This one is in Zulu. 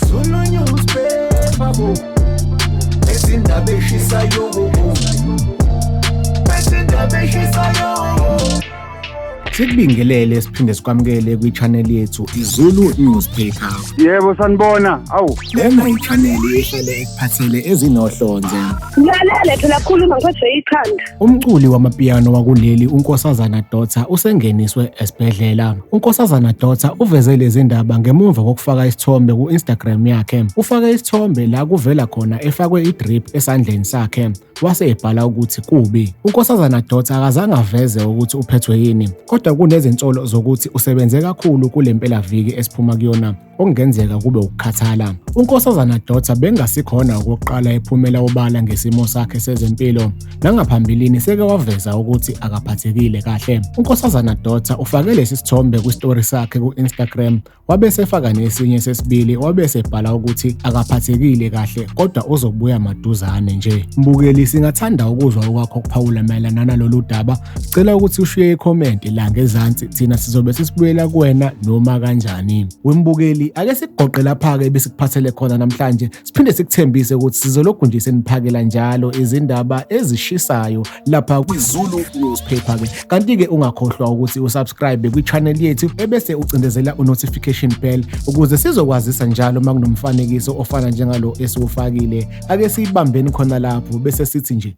Zulu newspaper bo Ezindaba eshisayo bo Ezindaba eshisayo Sikubingelele siphinde sikwamukele kwi-channel yethu iZulu Newspaper. Yebo sanibona. Awu. Lena i-channel ehlele ekuphathele ezinohlonze. Ngilalele phela khuluma ngiphethwe ikhanda. Umculi wamapiano wakuleli uNkosazana Dotsa usengeniswe esibhedlela. UNkosazana Dotsa uveze lezi ndaba ngemuva kokufaka isithombe ku-Instagram yakhe. Ufake isithombe la kuvela khona efakwe i-drip esandleni sakhe wase ebhala ukuthi kubi. UNkosazana Dotsa akazange aveze ukuthi uphethwe yini, kodwa kunezinsolo zokuthi usebenze kakhulu kule mpelaviki esiphuma kuyona okungenzeka kube ukukhathala. UNkosazana Dotsa bengasikhona okokuqala ephumela obala ngesimo sakhe sezempilo. Nangaphambilini seke waveza ukuthi akaphathekile kahle. UNkosazana Dotsa ufake lesi sithombe kwistory sakhe ku-Instagram wabe sefaka nesinye sesibili wabe sebhala ukuthi akaphathekile kahle kodwa uzobuya maduzane nje. Mbukeli singathanda ukuzwa okwakho okuphawula mayelana nalolu daba Sicela ukuthi ushiye ikhomenti la ngezansi thina sizobe sisibuyela kuwena noma kanjani. Wembukeli ake sikugoqe lapha-ke ebesikuphathele khona namhlanje siphinde sikuthembise ukuthi sizolokhu nje seniphakela njalo izindaba ezishisayo lapha kwiZulu Newspaper-ke. Kanti-ke ungakhohlwa ukuthi usubscribe kwi-channel yethu ebese ucindezela u-notification bell ukuze sizokwazisa njalo uma kunomfanekiso ofana njengalo esiwufakile. Ake siyibambeni khona lapho bese sithi nje